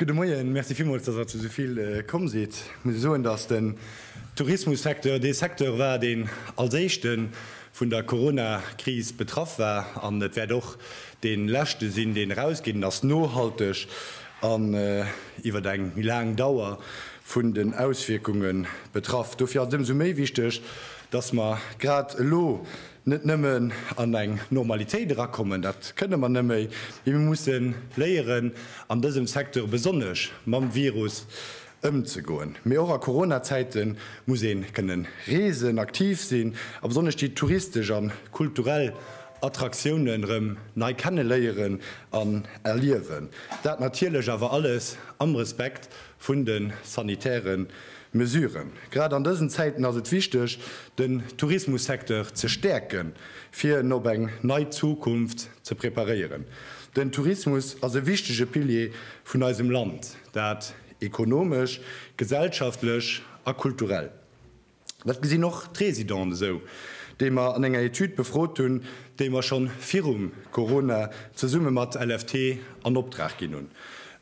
Gudde Moien, Merci villmools, datt Der zu esou vill komm sidd. Ech muss soen, datt den Tourismussecteur dee Secteur war, deen als éischte vun der Coronakris betraff war, an et wäert och dee leschte sinn, deen erausgeet. En ass nohalteg an iwwer eng méi laang Dauer vun den Auswierkunge betraff. Dofir ass et ëmsou méi wichteg, Dass mer grad elo net nëmmen an eng Normalitéit erakommen, dat kënne mer nëmme, mee mir musse léieren, an dësem Secteur besonnesch, mam Virus ëmzegoen. Mee och a Corona-Zäite muss ee kënnen reesen, aktiv sinn a besonnesch déi touristesch a kulturell Attraktiounen erëm nei kenneléieren an erliewen. Dat natierlech awer alles am Respekt vun de sanitäre Mesuren. Grad an dësen Zäiten ass et wichteg, den Tourismussecteur ze stäerken, fir en op eng nei Zukunft ze preparéieren. Den Tourismus ass e wichtege Pilier vun eisem Land, dat ekonomesch, gesellschaftlech a kulturell. Dat gesinn och d'Résidenten esou, déi mer an enger Etüd befrot hunn, déi mer schonn virum Corona zesumme mat LFT an Opdrag ginn hunn.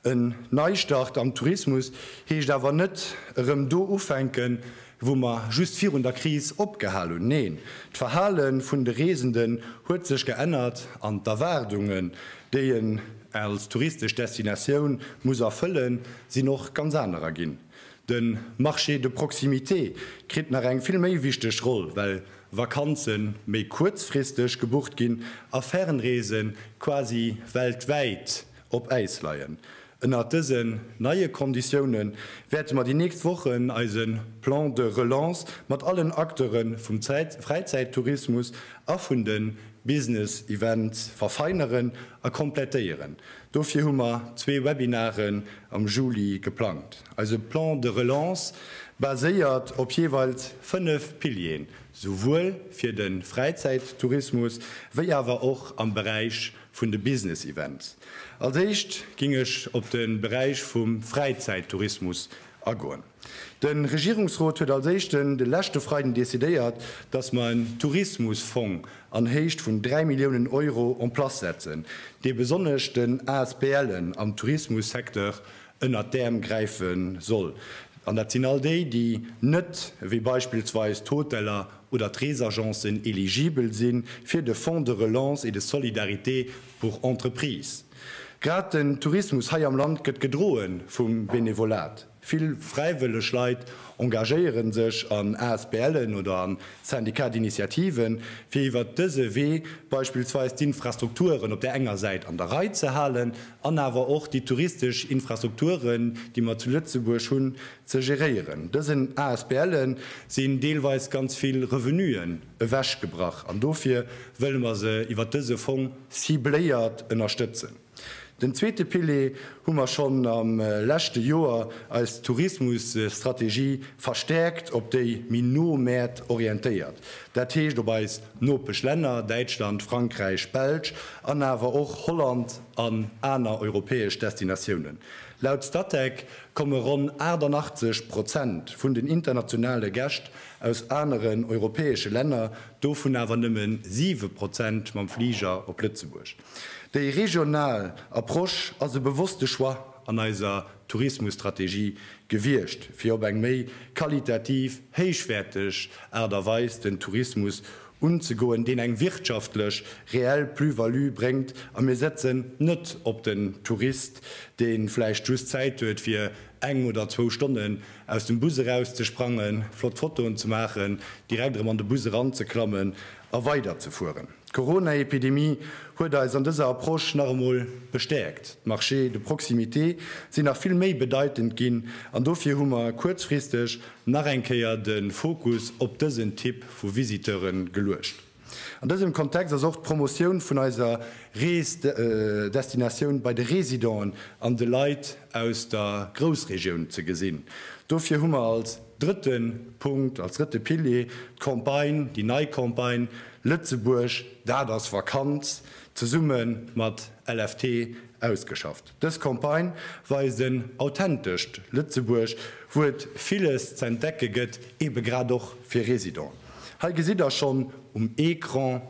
En Neistart am Tourismus heescht awer net erëm do ufänken, wou mer just virun der Kris opgehal hunn. Neen, d'Verhale vun de Reesenden huet sech geännert an d'Erwaardungen, déi een als touristesch Destinatioun muss erfëllen, sinn och ganz anerer ginn. De Marché de proximité kritt nach eng vill méi wichteg Roll, well Vakanze méi kuerzfristeg gebucht ginn a Fernreese quasi weltwäit op Äis leien. Ënnert dësen neie Konditioune wäerte mer déi nächst Wochen eise Plan de relance mat allen Acteure vum Fräizäittourismus a vun de Business Events verfeineren a komplettéieren, Dofir hu mer zwee Webinaren am Juli geplangt. Eise Plan de relance baséiert op jeeweils fënnef Pilieren, souwuel fir de Fräizäittourismus wéi awer och am Beräich vun de Business Events. Als éischt géing ech op de Beräich vum Fräizäittourismus agoen. De Regierungsrot huet als Éischten de leschte Freiden decidéiert, dass mer en Tourismusfong an Héicht vun 3 Milliounen Euro en place setzen, dee besonnesch den ASBLen am Tourismussecteur ënnert d'Äerm gräife soll. An dat sinn all déi, déi net, wéi beispillsweis d'Hoteller oder d'Reesagencen, eligibel si fir de Fonds de relance et de solidarité pour entreprises. Grad den Tourismus hei am Land gëtt gedroe vum Benevolat. Vill fräiwëlleg Leit engagéiere sech an ASBLen oder a Syndicats d'initiative, fir iwwert dëse Wee beispillsweis d'Infrastrukturen op där enger Säit an der Rei ze halen an awer och déi touristesch Infrastrukturen, déi mer zu Lëtzebuerg hunn, ze geréieren. Dësen ASBLe sinn deelweis ganz vill Revenuen ewechgebrach an dofir wëlle mer se iwwert dëse Fong cibléiert ënnerstëtzen. Den zweete Pilier hu mer schonn am leschte Joer, eis Tourismusstrategie verstärkt op déi méi no Mäert orientéiert, dat heescht op eis Nopeschlänner, Däitschland, Frankräich, Belsch an awer och Holland an aner europäesch Destinatiounen. Laut Statec komme ronn 88 Prozent vun den internationale Gäscht aus aneren europäesche Länner, dovun awer nëmmen 7 Prozent mam Fliger op Lëtzebuerg. Déi regional Approche ass e bewosste Choix an eiser Tourismusstrategie gewiescht, fir op eng méi qualitativ héichwäerteg Aart a Weis den Tourismus unzegoen, deen eng wirtschaftlech reell Plus-value bréngt a mir setzen net op den Tourist, dee vläicht just Zäit huet, fir eng oder zwou Stonnen aus dem Bus erauszesprangen, flott Fotoen ze maachen, direkt erëm an de Bus eranzeklammen a weiderzefueren. D'Corona-Epidemie huet eis an dëser Approche nach emol bestäerkt. D'Marchés de proximité sinn nach vill méi bedeitend ginn an dofir hu mer kuerzfristeg nach eng Kéier de Fokus op dësen Typ vu Visiteure geluecht. An dësem Kontext ass och d'Promotioun vun eiser Rees-Destinatioun bei de Residenten an de Leit aus der Groussregioun ze gesinn. Dofir hu mer als drëtte Punkt, als drëtte Pilier d'Campagne, déi nei Campagne Lëtzebuerg, dat ass Vakanz! zesumme mat LFT ausgeschafft. Dës Campagne weist en authentescht Lëtzebuerg, wou et villes z'entdecke gëtt, ebe grad och fir Residenten. Hei gesitt der schonn um Ecran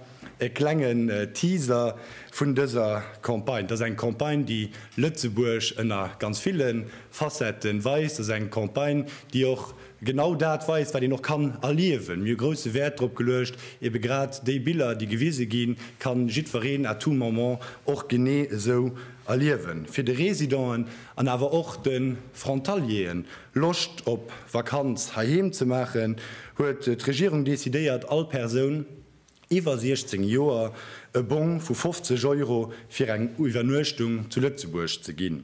e klengen Teaser vun dëser Campagne. Dat ass eng Campagne, déi Lëtzebuerg ënner ganz ville Facetten weist. Dat ass eng Campagne, déi och Genau dat weist, wat een och kann erliewen. Mir hu grousse Wäert drop geluecht, ebe grad déi Biller, déi gewise ginn, ka jiddwereen à tout moment och genee esou erliewen. Fir de Residenten an awer och de Frontalieren Loscht op Vakanz heiheem ze maachen, huet d'Regierung decidéiert, all Persoun, iwwer 16 Joer e Bong vu 50 Euro fir eng Iwwernuechtung zu Lëtzebuerg ze ginn.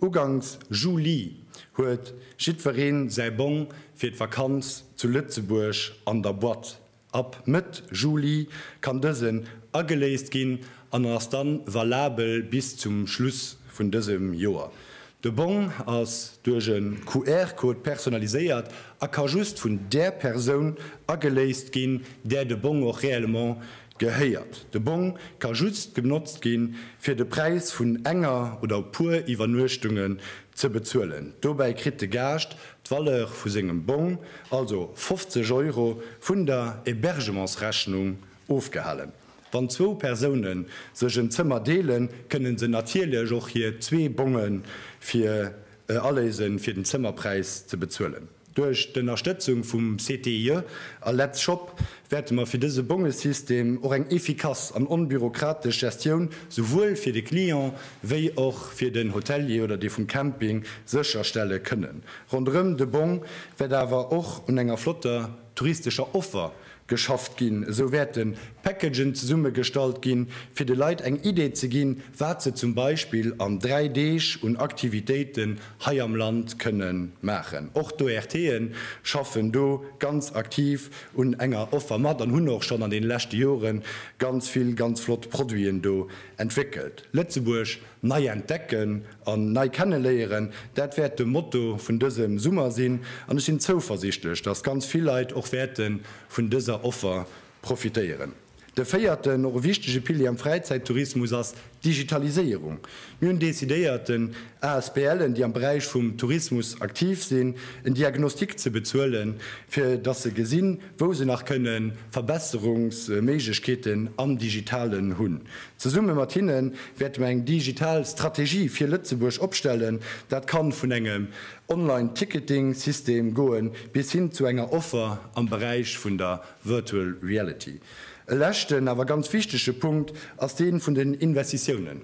Uganks Juli huet jiddweree säi Bong fir d'Vakanz zu Lëtzebuerg an der Boîte. Ab Mëtt Juli kann dësen ageléist ginn an ass da valabel bis zum Schluss vun dësem Joer. De Bong ass duerch e QR-Code personaliséiert a ka just vun där Persoun ageléist ginn, där de Bong och réellement gehéiert. De Bong ka just genotzt gi fir de Präis vun enger oder puer Iwwernuechtungen ze bezuelen. Dobäi kritt de Gaascht d'Valeur vu sengem Bong, also 50 Euro, vun der Hébergementsrechnung ofgehalen. Wann zwou Persoune sech en Zëmmer deelen, kënne se natierlech och hir zwee Bonge fir e Aléise fir den Zëmmerpräis ze bezuelen. Duerch d'Ënnerstëtzung vum CTIE a Let's Shop wäerte mer fir dëse Bongesystem och eng efficace an onbürokratesch Gestioun souwuel fir de Client wéi och fir den Hotelier oder dee vum Camping sécherstelle kënnen. Ronderëm de Bong wäert awer och un enger flotter touristescher Offer geschafft ginn, esou wäerte Packagen zesummegestallt ginn, fir de Leit eng Idee ze ginn, wat se zum Beispill an dräi Deeg un Aktivitéiten hei am Land kënne maachen. Och d'ORTe schaffen do ganz aktiv un enger Offer mat an hunn och schonn an deene leschte Jore ganz vill ganz flott Produiten do entwéckelt. Lëtzebuerg Nei entdecken an nei kenneléieren, dat wäert de Motto vun dësem Summer sinn an ech sinn zouversichtlech, dass ganz vill Leit och wäerte vun dëser Offer profitéieren. De véierten, och e wichtege Pilier am Fräizäittourismus ass d'Digitaliséierung. Mir hunn decidéiert, den ASBLen, déi am Beräich vum Tourismus aktiv sinn, en Diagnostic ze bezuelen, fir dass se gesinn, wou se nach kënne Verbesserungsméiglechkeeten am Digitalen hunn. Zesumme mat hinne wäerte mer eng digital Strategie fir Lëtzebuerg opstellen. Dat ka vun engem Online Ticketing System goe bis hin zu enger Offer am Beräich vun der Virtual Reality. E leschten, awer ganz wichtege Punkt ass dee vun den Investitiounen.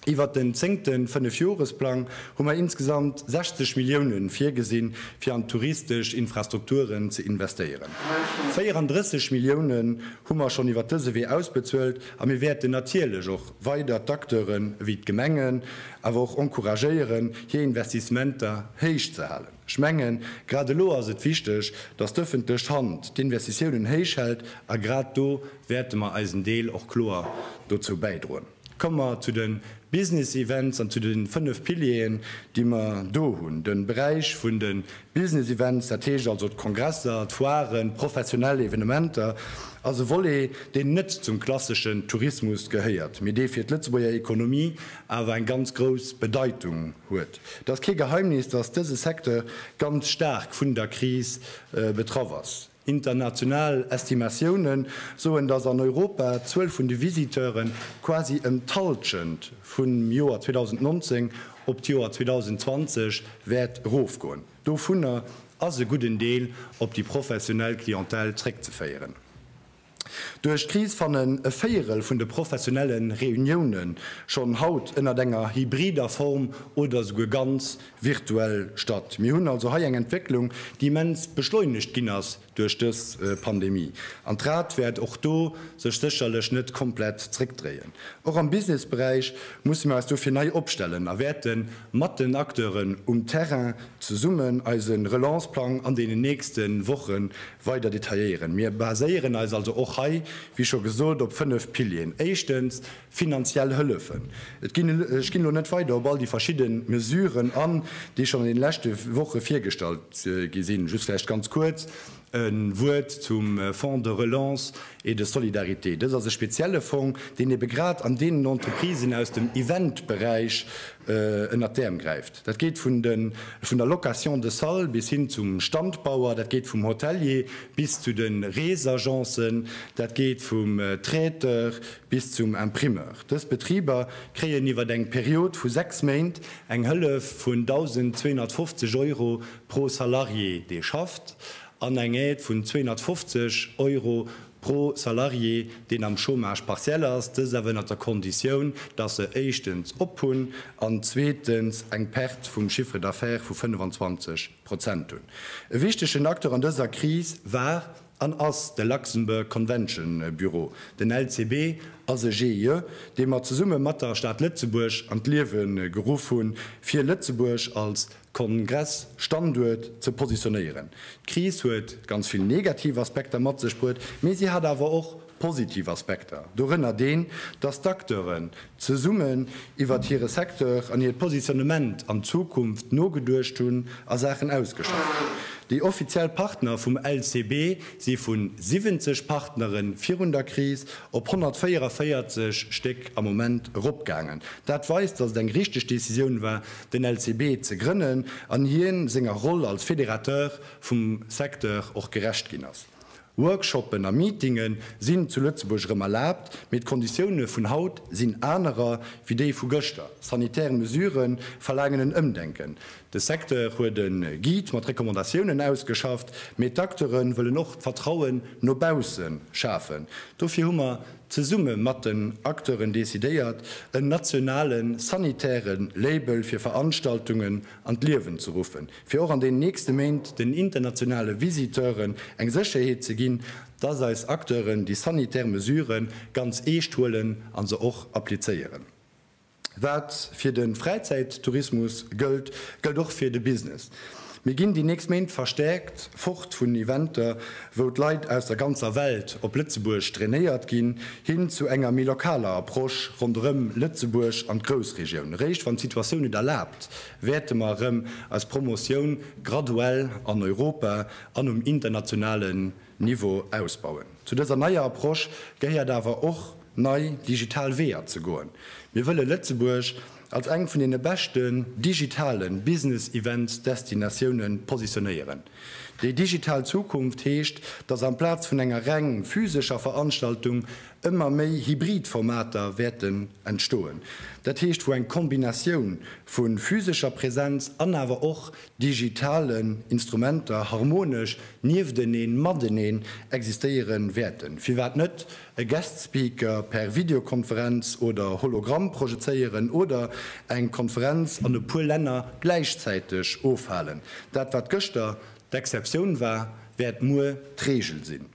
Iwwert den zéngte Fënnefjoresplang hu mer insgesamt 60 Millioune virgesinn, fir an d'touristesch Infrastrukturen ze investéieren. 34 Millioune hu mer schonn iwwert dëse Wee ausbezuelt a mir wäerten natierlech och weider d'Acteuren ewéi d'Gemengen awer och encouragéieren, hir Investissementer héich ze halen. Ech mengen, grad elo ass et wichteg, dass d'ëffentlech Hand d'Investitiounen héich hält a grad do wäerte mer eisen Deel och kloer dozou bäidroen. Komme mer zu de Business Events an zu de fënnef Pilieren, déi mer do hunn. De Beräich vun de Business Events, dat heescht also d'Kongresser, d'Foiren, d'professionell Evenementer, ass e Volet, deen net zum klasseschen Tourismus gehéiert, mee dee fir d'Lëtzebuerger Ekonomie awer eng ganz grouss Bedeitung huet. Et ass kee Geheimnis, dass dëse Secteur ganz staark vun der Kris betraff ass. International Estimatioune soen, datt an Europa d'Zuel vun de Visiteuren quasi ëm d'Hallschent vum Joer 2019 op d'Joer 2020 wäert erofgoen. Dovunner ass e gudden Deel op déi professionell Clientèle zréckzeféieren. Duerch d'Kris fannen e Véierel vun de professionelle Reunioune schonn haut ënnert enger hybrider Form oder esouguer ganz virtuell statt. Mir hunn also hei eng Entwécklung, déi immens beschleunegt ginn ass duerch dës Pandemie. An d'Rad wäert och do sech sécherlech net komplett zréckdréien. Och am Businessberäich musse mir eis dofir nei opstellen a wäerte mat den Acteuren um Terrain zesummen eise Relance-Plang an deenen nächste Woche Weider detailléieren. Mir baséieren eis also och hei, wéi scho gesot, op fënnef Pilieren. Éischtens, finanziell Hëllefen. Et ginn, ech ginn elo net weider op all déi verschidde Mesuren an, déi schonn an deene leschte Woche virgestallt gi sinn, just vläicht ganz kuerz e Wuert zum Fonds de relance. Et de solidarité. Dëst ass e spezielle Fong, deen ebe grad an deenen Entreprisen aus dem Eventberäich ënnert d'Äerm gräift. Dat geet vun der Location de salle bis hin zum Standbauer, dat geet vum Hotelier bis zu de Reesagencen, dat geet vum Traiteur bis zum Imprimeur. Dës Betriber kréien iwwer eng Period vu sechs Méint eng Hëllef vun 1.250 Euro pro Salarié, dee schafft. an eng Aide vun 250 Euro pro Salarié, deen am Chômage partiel ass, dëst awer ënnert der Konditioun, dass se éischtens op hunn an zweetens eng Perte vum Chiffre d'affaires vu 25 Prozent hunn. E wichtegen Acteur an dëser Kris war an ass de Luxembourg Convention Bureau. Den LCB ass e GIE, dee mer zesumme mat der Stad Lëtzebuerg an d'Liewe geruff hunn, fir Lëtzebuerg als Kongress-Standuert ze positionéieren. D'Kris huet ganz vill negativ Aspekter mat sech bruet, mee si hat awer och positiv Aspekter, dorënner deen, dass d'Acteuren zesummen iwwert hire Secteur an hiert Positionnement an d'Zukunft nogeduecht hunn a Saachen ausgeschafft hunn. Déi offiziell Partner vum LCB si vu 70 Partnere virun der Kris op 144 Stéck am Moment eropgaangen. Dat weist, dass et eng richteg Decisioun war, den LCB ze grënnen an hien senger Roll als Fédérateur vum Secteur och gerecht ginn ass. Workshoppen a Meetinge sinn zu Lëtzebuerg erëm erlaabt, mee d'Konditioune vun haut sinn anerer wéi déi vu gëschter. Sanitär Mesurë verlaangen en Ëmdenken. De Secteur huet e Guide mat Recommandatiounen ausgeschafft, mee d'Acteure wëllen och d'Vertrauen no bausse schafen. Dofir hu mer zesumme mat den Acteuren decidéiert, en nationale sanitäre Label fir Veranstaltungen an d'Liewen ze ruffen, fir och an den nächste Méint den internationale Visiteuren eng Sécherheet ze ginn, dass eis Acteuren déi sanitär Mesure ganz eescht huelen a se och applizéieren. Wat fir de Fräizäittourismus gëllt, gëllt och fir de Business. Mir ginn déi nächst Méint verstäerkt fort vun Eventer, wou d'Leit aus der ganzer Welt op Lëtzebuerg drainéiert ginn, hin zu enger méi lokaler Approche ronderëm Lëtzebuerg an d'Groussregioun. Eréischt wann d'Situatioun et erlaabt, wäerte mer erëm eis Promotioun graduell an Europa an um internationale. Niveau ausbauen. Zu dëser neier Approche gehéiert awer och, nei digital Weeër ze goen. Mir wëlle Lëtzebuerg als eng vun deene beschten digitale Business-Events-Destinatioune positionéieren. Déi digital Zukunft heescht, dass amplaz vun enger reng physescher Veranstaltung ëmmer méi hybrid Formater wäerten entstoen, dat heescht wou eng Kombinatioun vu physescher Präsenz an awer och digitalen Instrumenter harmonesch niefteneen, mateneen existéiere wäerten, firwat net e Guest Speaker per Videokonferenz oder Hologramm projezéieren oder eng Konferenz an e puer Länner gläichzäiteg ofhalen. Dat wat gëschter d'Exceptioun war, wäert muer d'Reegel sinn.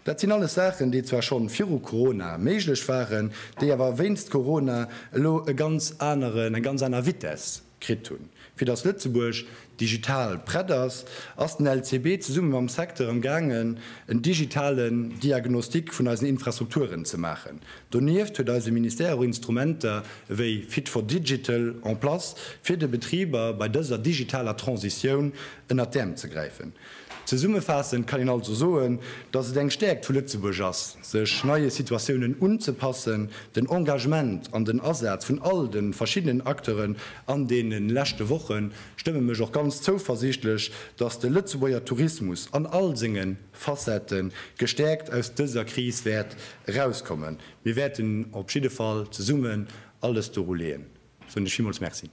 Dat sinn alles Saachen, déi zwar schonn viru Corona méiglech waren, déi awer wéinst Corona elo e ganz aneren, eng ganz aner Vitesse kritt hunn. Fir datt Lëtzebuerg digital prett ass, ass den LCB zesumme mam Secteur am gaangen en digitalen Diagnostic vun eisen Infrastrukturen ze maachen. Donieft huet eise Ministère och Instrumenter ewéi Fit for Digital en place fir de Betriber bei dëser digitaler Transitioun ënnert d'Äerm ze gräifen. Zesummefaassend kann een also soen, datt et eng Stäerkt vu Lëtzebuerg ass, sech neie Situatiounen unzepassen, den Engagement an den Asaz vun all de verschiddenen Acteuren an deene leschte Woche stëmme mech och ganz zouversiichtlech, datt de Lëtzebuerger Tourismus an all senge Facette gestäerkt aus dëser Kris wäert erauskommen. Mir wäerten op jidde Fall zesummen alles doru leeën, soen ech villmools Merci.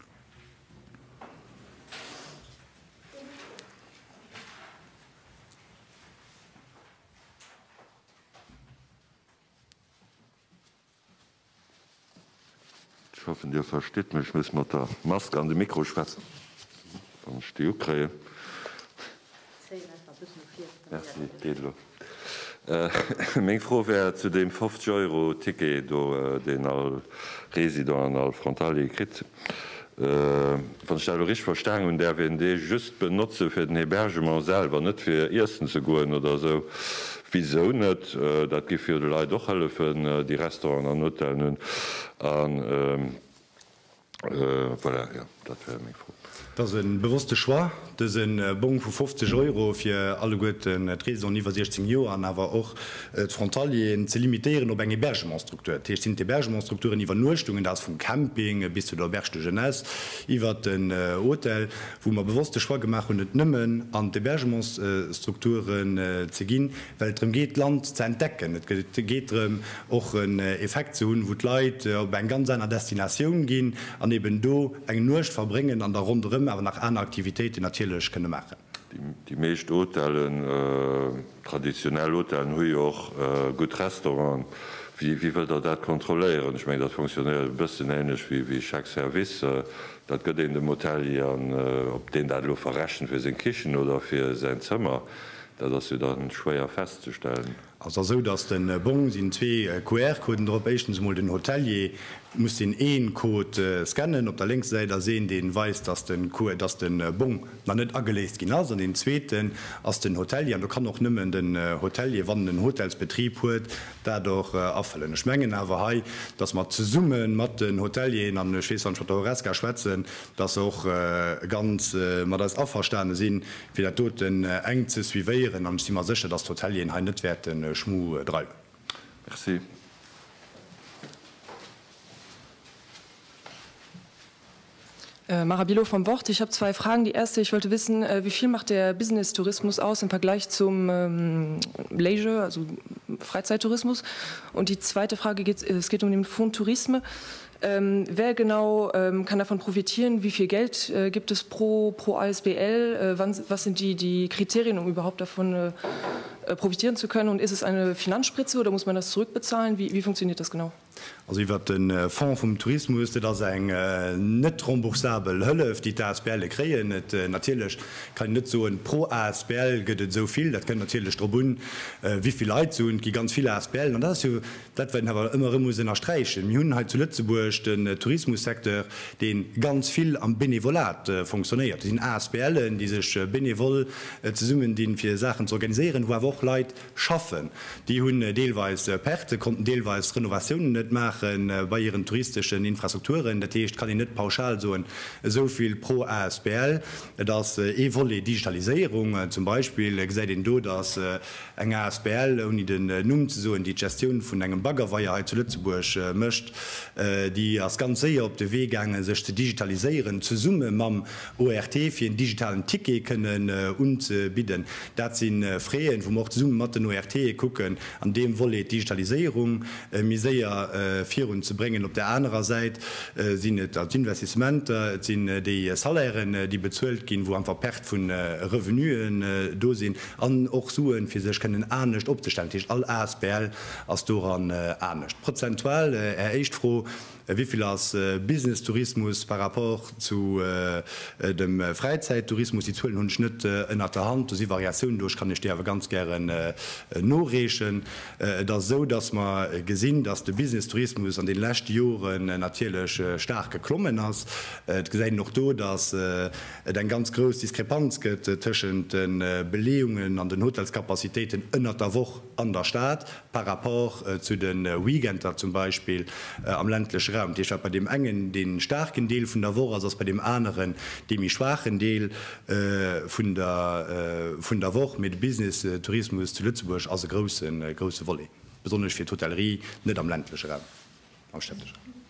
Ech hoffen Dir verstitt mech, ech muss mat der Mask an de Mikro schwätzen, wann ech déi ukréien. Merci, geet elo. Meng Fro wär zu deem 50 Euro Ticket do, deen all Resident an all Frontalier kritt. Wann ech dat elo richteg verstanen hunn, däerf een dee just benotze fir den Hebergement selwer, net fir iessen ze goen oder esou. Wisou net? Dat géif jo de Leit och hëllefen, déi Restauranten an Hotellen hunn. Voilà, jo, dat wär meng Fro. Et ass e bewosste Choix, dëse Bong vu 50 Euro fir alleguerten d'Residenten iwwer 16 Joer an awer och d'Frontalieren ze limitéieren op eng Hebergementsstruktur. Dat heescht, sinn d'Hebergementsstrukturen, Iwwernuechtungen, dat ass vum Camping bis zu der Auberge de Jeunesse iwwert den Hotel, wou mer bewosst de Choix gemaach hunn, et nëmmen an d'Hebergementsstrukturen ze ginn, well et drëm geet d'Land ze entdecken, et geet drëm och en Effekt ze hunn, wou d'Leit op eng ganz aner Destinatioun ginn an eben do eng Nuecht verbréngen an da ronderëm awer nach aner Aktivitéiten natierlech kënne maachen. Déi meescht Hotellen, traditionell Hotellen, hu jo och gutt Restauranten. Wéi wëllt Der dat kontrolléieren? Ech mengen, dat fonctionnéiert e bëssen änlech wéi Chèque service. Dat gëtt een dem Hotelier an ob deen dat elo verrechent fir seng Kichen oder fir säin Zëmmer, Dat ass jo da schwéier festzestellen. Ass da sou, datt de Bong sinn zwee QR-Coden drop. Éischtens emol den Hotelier muss deen ee Code scannen. Op der lénkser Säit ass een, dee weist, datt de QR, datt de Bong nach net ageléist ginn ass. An deen zweeten ass den Hotelier. An do kann och nëmmen den Hotelier, wann en en Hotelsbetrib huet, dat och afëllen. Ech mengen awer hei, datt mer zesumme mat den Hotelieren, an ech weess, wann ech mat der Horesca schwätzen, datt se och ganz mat eis averstane sinn, fir dat doten enk ze suivéieren an ech si mer sécher, datt d'Hotelieren hei net wäerte Schmu dreiwen. Merci. Mara Bilot vom Wort, Ich habe zwei Fragen. Die erste, ich wollte wissen, wie viel macht der Business-Tourismus aus im Vergleich zum Leisure, also Freizeitourismus? Und die zweite Frage geht, es geht um den Fonds Tourisme. Wer genau kann davon profitieren? Wie viel Geld gibt es pro asbl? Was sind die Kriterien, um überhaupt davon profitieren zu können? Und ist es eine Finanzspritze oder muss man das zurückbezahlen? Wie funktioniert das genau? Also iwwert de Fonds vum Tourismus, dat ass eng net remboursabel Hëllef, déi d'ASBLe kréien. Et natierlech kann een net soen, pro asbl gëtt et esou vill. Dat kënnt natierlech drop un, wéi vill Leit et sinn. Et gi ganz vill ASBLen an dat ass jo Dat wat een awer ëmmer erëm muss ënnersträichen, mir hunn hei zu Lëtzebuerg den Tourismussecteur, dee ganz vill am Benevolat fonctionnéiert. Do sinn ASBLen, déi sech benevol zesummendinn, fir Saachen ze organiséieren, wou awer och Leit schaffen. Déi hunn deelweis Pertë, konnten deelweis Renovatiounen net maache bei hiren touristeschen Infrastrukturen. Dat heescht, et kann een net pauschal soen, esou vill pro asbl. Et ass ee Volet Digitaliséierung zum Beispill, gesäit een do, datt Eng asbl, ouni den Numm ze soen, déi d'Gestioun vun engem Baggerweier hei zu Lëtzebuerg mécht, déi ass ganz séier op de Wee gaangen, sech ze digitaliséieren, zesumme mam ORT, fir en digitalen Ticket kënnen unzebidden. Dat si Freeën, wou mer och zesumme mat den ORTe kucken, an deem Volet d'Digitaliséierung méi séier virun ze bréngen. Op där anerer Säit sinn et d'Investissementer, et sinn déi Salairen, déi bezuelt ginn, wou einfach Perte vu Revenuen do sinn. An och Suen, fir sech kënnen anescht opzestellen. Dat heescht, all Asbl ass doran anescht. Prozentual, Är éischt Fro, wéi vill ass Businesstourismus par rapport zu dem Fräizäittourismus? Déi Zuelen hunn ech net ënnert der Hand. Do si Variatiounen do. Ech kann Iech déi awer ganz gären noreechen. Et ass esou, datt mer gesinn, datt de Businesstourismus an deene leschte Joren natierlech staark geklommen ass. Et gesäit een och do, datt et eng ganz grouss Diskrepanz gëtt tëschent de Beleeungen an den Hotelscapacitéiten ënnert der Woch an der Stad par rapport zu de Weekender zum Beispill am ländleche Raum. Dat heescht, wat bei deem engen dee staarken Deel vun der Woch ass, ass bei deem aneren dee méi schwaachen Deel vun der Woch. Mee de Businesstourismus zu Lëtzebuerg ass e grousse Volet, besonnesch fir d'Hotellerie, net am ländleche Raum, am städtesche Raum.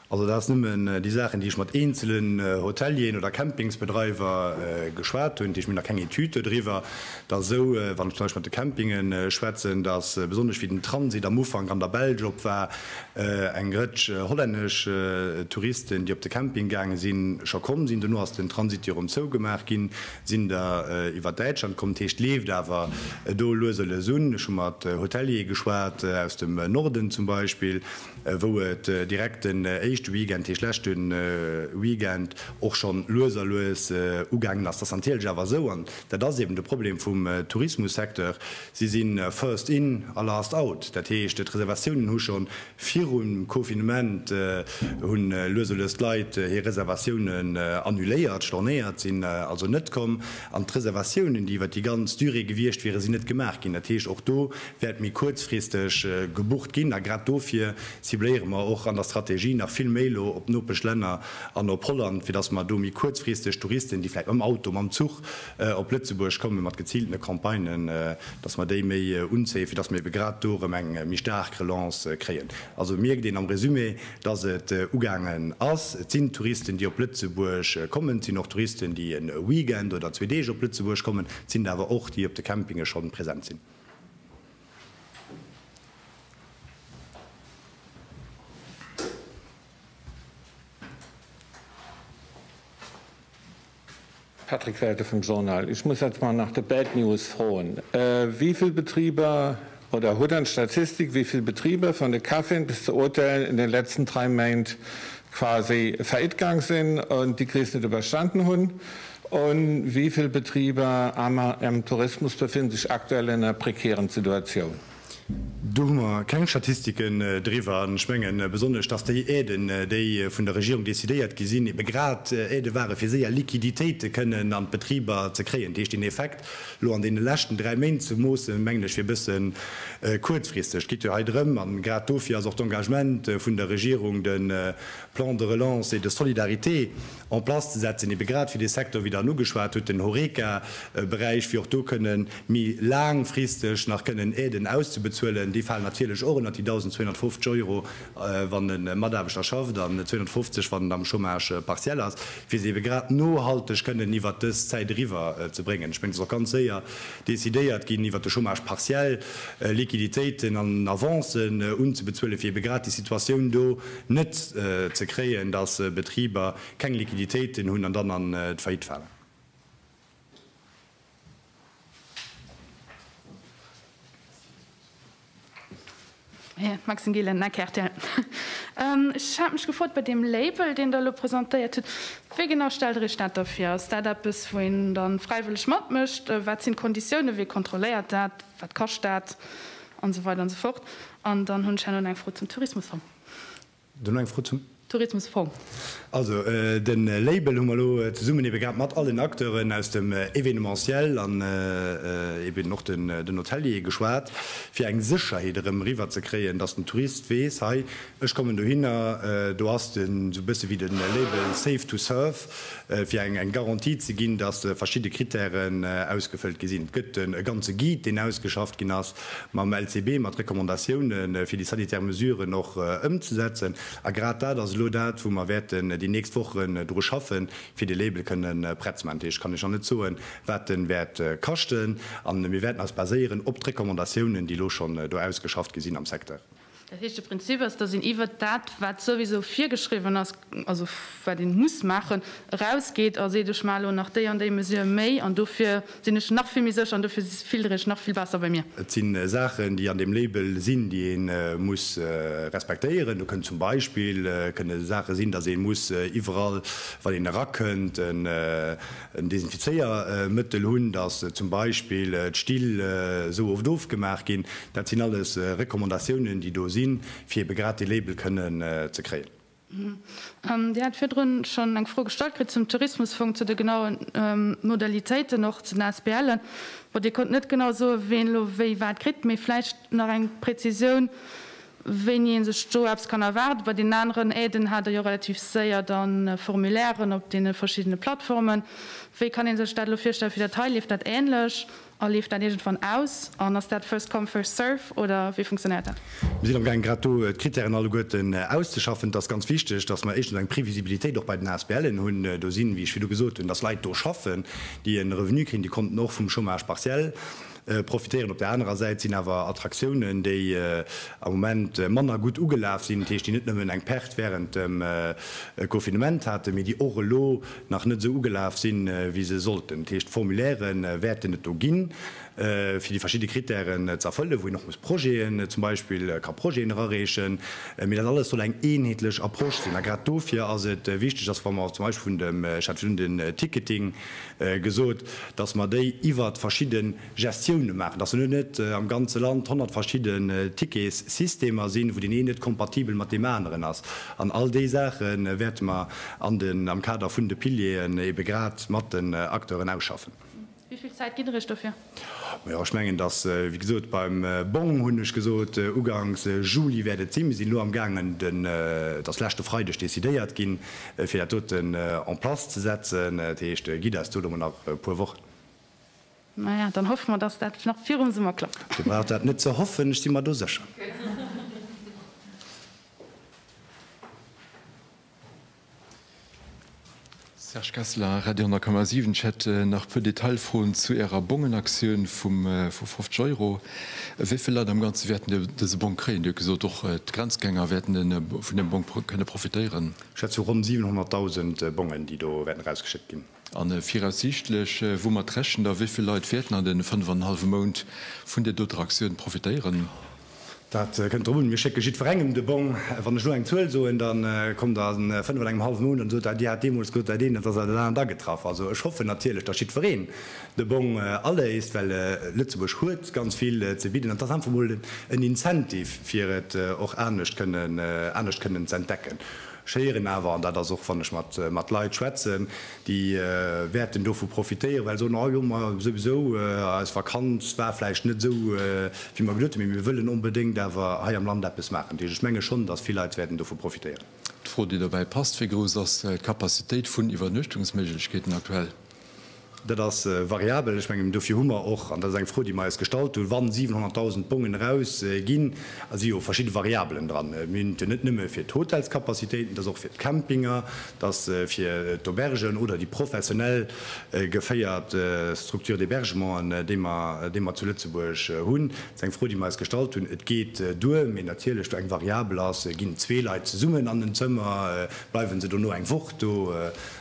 Also dat ass nëmmen déi Saachen, déi ech mat eenzelen Hotelieren oder Campingsbedreiwer geschwat hunn. Dat heescht, mir hunn nach keng Etüd dodriwwer. Et ass esou, wann ech zum Beispill mat de Campinge schwätzen, datt besonnesch wéi den Transit am Ufank an der Belsch op war, eng Rëtsch hollännesch Touristen, déi op de Camping gaange sinn, scho komm sinn. Dono ass den Transit jo erëm zougemaach ginn, sinn der iwwer Däitschland komm. Dat heescht, et leeft awer do lues a lues un. Ech hu mat Hoteliere geschwat aus dem Norden zum Beispill. wou et direkt den éischte Weekend, heescht leschte Weekend, och schonn lues a lues ugaangen ass. Dat ass natierlech awer esou, an dat ass eben de Problem vum Tourismussecteur, si si first in a last out. Dat heescht, d'Reservatiounen hu scho virum Confinement, hu lues a lues d'Leit hir Reservatiounen annuléiert, stornéiert, sinn also net komm, an d'Reservatiounen, déi iwwert déi ganz Durée gewiescht wieren, sinn net gemaach ginn. Dat heescht, och do wäert méi kuerzfristeg gebucht ginn. A grad dofir cibléiere mer och an der Strategie nach vill méi elo op d'Nopeschlänner an op Holland, fir datt mer do méi kuerzfristeg Touristen, déi vläicht mam Auto, mam Zuch op Lëtzebuerg kommen, mat geziiltene Campagnen, datt mer déi méi unzéien, fir datt mer ebe grad do erëm eng méi staark Relance kréien. Also mierkt een am Resumé, datt et ugaangen ass. Et sinn Touristen, déi op Lëtzebuerg kommen. Et sinn och Touristen, déi e Weekend oder zwee Deeg op Lëtzebuerg kommen. Et sinn der awer och, déi op de Campinge schonn present sinn. Patrick Welke vum Journal, Ech muss etztmol nach de Bad News froen. Wéi vill Betriber, oder hutt Der eng Statistik, wéi vill Betriber, vun de Caféen bis zu Hotelen, an de letzten dräi Méint quasi faillite gaang sinn an déi Kris net iwwerstanen hunn? Und wie vill Betriber amer em Tourismus befinnen sech aktuell en enger prekären Situatioun? Do hu mer keng Statistiken driwwer. An ech mengen besonnesch, dass déi Aiden, déi vun der Regierung decidéiert gi sinn, ebe grad Aide ware fir séier Liquiditéite kënnen an d'Betriber ze kréien. Dat heescht, deen Effekt elo an deene leschten dräi Méint ze moossen, mengen ech, wier e bësse kuerzfristeg. Et geet jo hei drëm, an grad dofir ass och d'Engagement vun der Regierung, de Plan de relance et de solidarité, en place ze setzen, ebe grad fir dee Secteur, wéi Der en ugeschwat hutt, den Horeca Beräich, fir och do kënne méi laangfristeg nach kënnen Aiden auszebezuelen. Déi falen natierlech och ënnert déi 1.250 Euro, wann e Mataarbechter schafft, an 250, wann en am Chômage partiel ass, fir se ebe grad nohalteg kënnen iwwert dës Zäit eriwwer ze bréngen. Ech mengen, et ass och ganz séier decidéiert ginn, iwwert de Chômage partiel Liquiditéiten an Avancen unzebezuelen, fir ebe grad déi Situatioun do, net ze kréien, datt Betriber keng Liquiditéiten hunn an dann an d'Faillite falen. Maxime Gillen, Ake rtl, Ech hat mech gefrot bei deem Label, deen Der elo presentéiert hutt, wéi genau stellt Der Iech dat da vir? Ass dat eppes, wou een da fräiwëlleg matmécht? Wat sinn d'Konditiounen? Wee kontrolléiert dat? Wat kascht dat? An esou weider an esou fort. An dann hunn ech herno nach eng Fro zum Tourismusfong. Du nach eng Fro zum. Tourismusfong. Also de Label hu mer elo zesummen ebe grad mat allen Acteuren aus dem Événementiel an eben och den Hoteliere geschwat, fir eng Sécherheet erëm eriwwer ze kréien, dass den Tourist weess, hei, ech kommen dohinner, do ass den, esou e bësse wéi de Label Safe to Surf, Fir eng Garantie ze ginn, datt verschidde Krittären ausgefëllt gi sinn, gëtt e ganze Guide, deen ausgeschafft ginn ass, mam LCB, mat Recommandatiounen, fir déi sanitär Mesuren och ëmzesetzen. A grad dat ass elo dat, wou mer wäerten déi nächst Wochen dru schaffen, fir de Label kënne prett ze maachen. Dat heescht, kann ech nach net soen, wat en wäert kaschten. A mir wäerten eis baséieren op d'Recommandatiounen, déi elo schonn do ausgeschafft gi sinn am Secteur. Dat heescht, de Prinzip ass, datt een iwwert dat, wat souwisou virgeschriwwen ass, also wat een muss maachen, erausgeet a seet, ech maache elo nach déi an déi Mesure méi an dofir sinn ech nach vill méi sécher an dofir filtere ech nach vill besser bei mir. Et si Saachen, déi an deem Label sinn, déi ee muss respektéieren. Do kënnt zum Beispill kënne Saache sinn, datt ee muss iwwerall, wann een erakënnt, en Desinfizéiermëttel hunn, datt zum Beispill d'Still esou oft ofgemaach ginn, dat sinn alles Recommandatiounen, déi do sinn, fir ebe grad dee Label kënnen ze kréien. Dir hat virdrun schonn eng Fro gestallt kritt zum Tourismusfong, zu de genaue Modalitéiten, och zu den ASBLen. Bon, Dir konnt net genau soen, ween elo wéi wat kritt, mee vläicht nach eng Präzisioun, wéini ee sech do eppes kann erwaarden. Bei deenen aneren Aiden hat Der jo relativ séier da Formulairen op deene verschiddene Plattformen. Wéi kann ee sech dat elo virstellen fir dat hei? Leeft dat änlech a leeft dat iergendwann aus? An ass dat first come, first serve oder wéi funktionéiert dat? Mir sinn amgaang grad do d'Critèren alleguerten auszeschaffen. Et ass ganz wichteg, dass mer éischtens eng Previsibilitéit och bei den ASBLen hunn. Do sinn, wéi ech virdu gesot hunn, dass Leit do schaffen, déi e Revenu kréien, déi konnten och vum Chômage partiel profitéieren. Op der anerer Säit sinn awer Attraktiounen, déi am Moment manner gutt ugelaf sinn, dat heescht, déi net nëmmen eng Perte wärend dem Confinement haten, mee déi och elo nach net esou ugelaf sinn, wéi se sollten. Dat heescht, Formulaire wäerten et do ginn, fir déi verschidde Krittären ze erfëllen, wou een och muss Projeten, zum Beispill ka Projeten erareechen, mee dat alles soll eng eenheetlech Approche sinn. A grad dofir ass et wichteg, dass, wa mer zum Beispill vun dem, ech hat virun den Ticketing, gesot, dass mer déi iwwert verschidde Gestioune maachen, dass elo net am ganze Land honnert verschidde Ticketssystemer sinn, wou deen een net kompatibel mat deem aneren ass. An all déi Saache wäerte mer an den, am Kader vun de Pilieren ebe grad mat den Acteuren ausschaffen. Wéi vill Zäit gitt Der Iech dofir? Ma jo, ech mengen, dass, wéi gesot, beim Bong hunn ech gesot, ugangs Juli wäert et sinn. Mir sinn elo amgaangen, den, et ass leschte Freideg decidéiert ginn, fir dat doten en place ze setzen. Dat heescht, gitt eis do elo mol nach e puer Wochen. Ma ja, dann hoffe mer, dass dat nach virum Summer klappt. Dir braucht dat net ze hoffen, ech si mer do sécher. Serge Kessler, Radio 10,7, Ech hätt nach e puer Detailfroen zu Ärer Bongenaktioun vu 50 Euro. Wéi vill Leit am Ganze wäerten dëse Bong kréien? Dir hutt gesot, och d'Grenzgänger wäerten vun deem Bong kënne profitéieren. Schätzung, Ronn 700.000 Bongen, déi do wäerten erausgeschéckt ginn. A viraussiichtlech, woumat rechent Der, wéi vill Leit wäerten an deene fënnef an en hallwe Mount vun där doter Aktioun profitéieren? Dat kënnt drop un. Mir schécke jiddwerengem de Bong. Wann ech elo eng Zuel soen, da kommt Der an fënnef an engem hallwe Mount an sot, Ah, Dir hat deemools gesot, dat eent, elo ass dat dat anert agetraff. Also ech hoffen natierlech, datt jiddwereen de Bong aléist, well Lëtzebuerg huet ganz vill ze bidden an et ass einfach emol en Incentive, fir et och anescht kënnen, anescht kënnen z'entdecken. Ech héieren awer, an dat ass och wann ech mat Leit schwätzen, déi wäerten dovu profitéieren, well se soen, oh jo, ma souwisou, eis Vakanz war vläicht net esou wéi mer geduet hunn, mee mir wëllen onbedéngt awer hei am Land eppes maachen. Dat heescht, ech menge schonn, datt vill Leit wäerten dovu profitéieren. D'Fro, déi dobäi passt, Wéi grouss ass d'Capacitéit vun Iwwernuechtungsméiglechkeeten aktuell? Dat ass variabel. Ech mengen, dofir hu mer och, an dat ass eng Fro, déi mer eis gestallt hunn, wa 700.000 Bongen erausginn, da si jo verschidde Variabelen dran. Mir hunn et net nëmme fir d'Hotelskapazitéiten, et ass och fir d'Campinge, et ass fir d'Aubergen oder déi professionell geféiert Structures d'hébergementen, déi mer zu Lëtzebuerg hunn. Dat ass eng Fro, déi mer eis gestallt hunn. Et geet duer, mee natierlech, do eng Variabel ass, Ginn zwee Leit zesummen an en Zëmmer, bleiwe se dono eng Woch do?